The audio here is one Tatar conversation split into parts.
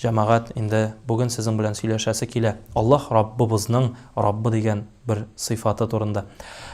Җәмәгать, инде бүген сезнең белән сөйләшәсе килә Аллаһ Раббыбызның Раббы дигән бер сыйфаты турында.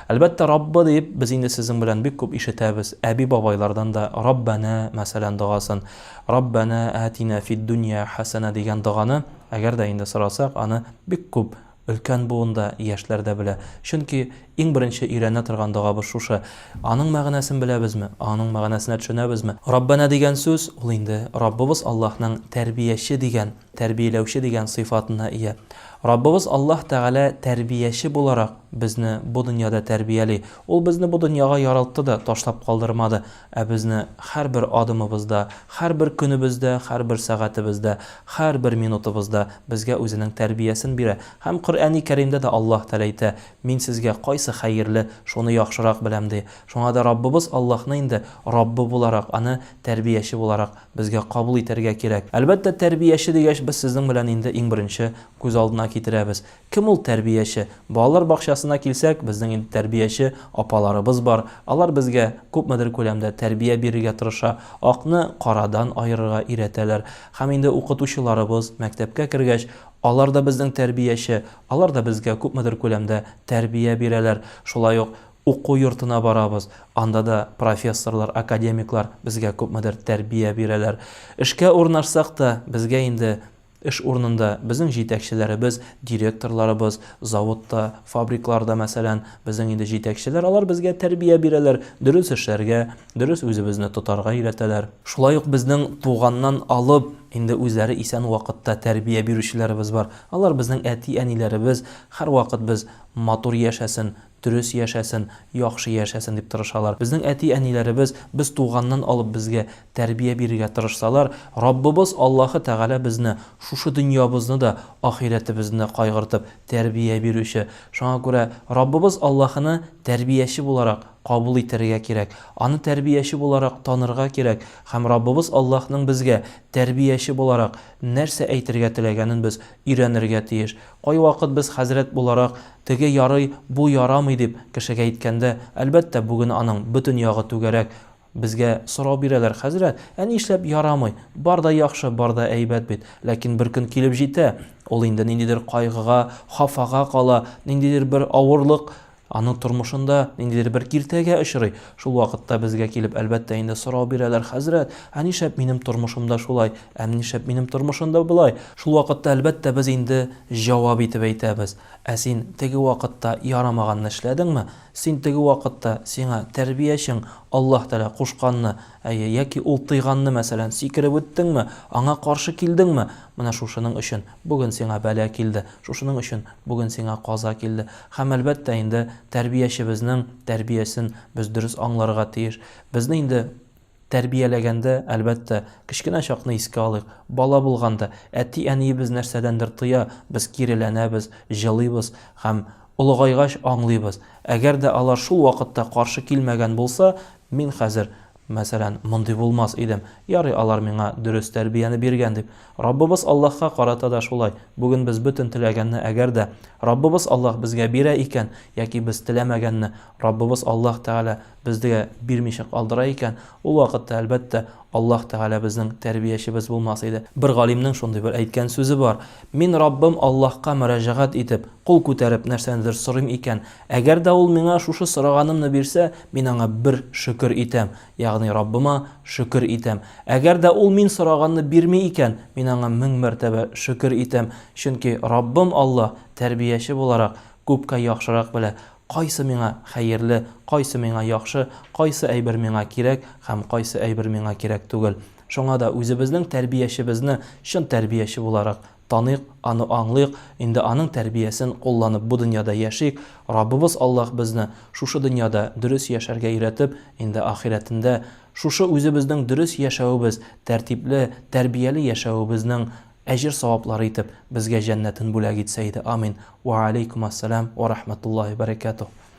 Әлбәттә, Раббы диеп без инде сезнең белән бик күп ишетәбез, әби-бабайлардан да Раббәнә, мәсәлән, догасын, Раббәнә әәтинә фид-дөнья хәсәнә дигән доганы, әгәр дә инде сорасак, аны бик күп Өлкән буын да, яшьләр дә белә. Чөнки иң беренче өйрәнә торган догабыз шушы. Аның мәгънәсен беләбезме? Аның мәгънәсенә төшенәбезме? Раббәнә дигән сүз, ул инде Раббыбыз Аллаһның тәрбияче дигән, тәрбияләүче дигән сыйфатына ия. Раббыбыз Аллаһ Тәгалә тәрбияче буларак безне бу дөньяда тәрбияли. Ул безне бу дөньяга ярылтты да, ташлап калдырмады. Ә безне һәрбер адымыбызда, һәрбер көнебездә, һәрбер сәгатебездә, һәрбер минутыбызда безгә Үзенең тәрбиясен бирә. Һәм Коръәни Кәримдә дә Аллаһ Тәгалә әйтә, Мин сезгә кайсы хәерле, шуны яхшырак беләм, ди. Шуңа да Раббыбыз Аллаһны инде Раббы буларак, Аны тәрбияче буларак безгә кабул итәргә кирәк. Әлбәттә, тәрбияче дигәч, без сезнең белән инде иң беренче күз алдына китерәбез, Кем ул тәрбияче? Балалар бакчасына килсәк, безнең инде тәрбияче апаларыбыз бар. Алар безгә күпмедер күләмдә тәрбия бирергә тырыша, акны карадан аерырга өйрәтәләр. Һәм инде укытучыларыбыз, мәктәпкә кергәч, алар да безнең тәрбияче, алар да безгә күпмедер күләмдә тәрбия бирәләр. Шулай ук уку йортына барабыз, анда да профессорлар, академиклар безгә күпмедер тәрбия бирәләр. Эшкә урнашсак та, безгә инде Эш урынында безнең җитәкчеләребез, директорларыбыз, заводта, фабрикларда, мәсәлән, безнең инде җитәкчеләр, алар безгә тәрбия бирәләр, дөрес эшләргә, дөрес үзебезне тотарга өйрәтәләр. Шулай ук безнең туганнан алып, инде үзләре исән вакытта тәрбия бирүчеләребез бар. Алар безнең әти-әниләребез, һәрвакыт без матур яшәсен, Дөрес яшәсен, яхшы яшәсен дип тырышалар. Безнең әти-әниләребез без туганнан алып безгә тәрбия бирергә тырышсалар, Раббыбыз Аллаһы Тәгалә безне шушы дөньябызны да, ахирәтебезне дә кайгыртып тәрбия бирүче. Шуңа күрә Раббыбыз Аллаһыны тәрбияче буларак кабул итәргә кирәк, Аны тәрбияче буларак танырга кирәк һәм Раббыбыз Аллаһның безгә тәрбияче буларак нәрсә әйтергә теләгәнен без өйрәнергә тиеш. Кайвакыт без хәзрәт буларак, теге ярый, бу ярамый дип, кешегә әйткәндә, әлбәттә, бүген аның бөтен ягы түгәрәк, безгә сорау бирәләр, Хәзрәт, ә нишләп ярамый? Бар да яхшы, бар да әйбәт бит. Ләкин бер көн килеп җитә, ул инде ниндидер кайгыга, хафага кала, ниндидер бер авырлык Аның тормышында ниндидер бер киртәгә очрый. Шул вакытта безгә килеп, әлбәттә инде, сорау бирәләр, Хәзрәт, ә нишләп минем тормышымда шулай, ә нишләп минем тормышымда болай? Шул вакытта, әлбәттә, без инде җавап итеп әйтәбез, Ә син теге вакытта ярамаганны эшләдеңме? Син теге вакытта сиңа тәрбиячең Аллаһ Тәгалә кушканны, әйе, яки ул тыйганны, мәсәлән, сикереп үттеңме, аңа каршы килдеңме? Менә шушының өчен Бүген сиңа бәла килде, шушының өчен бүген сиңа каза килде. Һәм, әлбәттә инде, тәрбиячебезнең тәрбиясен без дөрес аңларга тиеш. Безне инде тәрбияләгәндә, әлбәттә, кечкенә чакны искә алыйк, бала булганда, әти-әниебез нәрсәдәндер тыя, без киреләнәбез, җылыйбыз. Һәм, олыгайгач, аңлыйбыз. Әгәр дә алар шул вакытта каршы килмәгән булса, мин хәзер Мәсәлән, мондый булмас идем, ярый, алар миңа дөрес тәрбияне биргән дип. Раббыбыз Аллаһка карата да шулай. Бүген без бөтен теләгәнне, әгәр дә Раббыбыз Аллаһ безгә бирә икән, яки без теләмәгәнне Раббыбыз Аллаһ Тәгалә бездгә бирмичә калдыра икән, ул вакытта, әлбәттә, Аллаһ Тәгалә безнең тәрбиячебез булмас иде. Бер галимнең шундый бер әйткән сүзе бар, Мин Раббым Аллаһка мөрәҗәгать итеп, кул күтәреп нәрсәнедер сорыйм икән, Әгәр дә ул миңа шушы сораганымны бирсә, мин аңа бер шөкер итәм, ягъни Раббыма шөкер итәм. Әгәр дә ул мин сораганны бирми икән, мин аңа мең мәртәбә шөкер итәм, чөнки Раббым Аллаһ, тәрбияче буларак, күпкә яхшырак белә, кайсы миңа хәерле, кайсы миңа яхшы, кайсы әйбер миңа кирәк һәм кайсы әйбер миңа кирәк түгел. Шуңа да үзебезнең тәрбиячебезне чын тәрбияче буларак Таныйк, аны аңлыйк, инде аның тәрбиясен кулланып бу дөньяда яшик, Раббыбыз Аллаһ безне шушы дөньяда дөрес яшәргә өйрәтеп, инде ахирәтендә шушы үзебезнең дөрес яшәвебез, тәртипле, тәрбияле яшәвебезнең әҗер-саваплары итеп безгә җәннәтен бүләк итсә иде, амин. Вә алейкумәссәлам вә рахмәтуллаһи вә бәрәкәтүһ.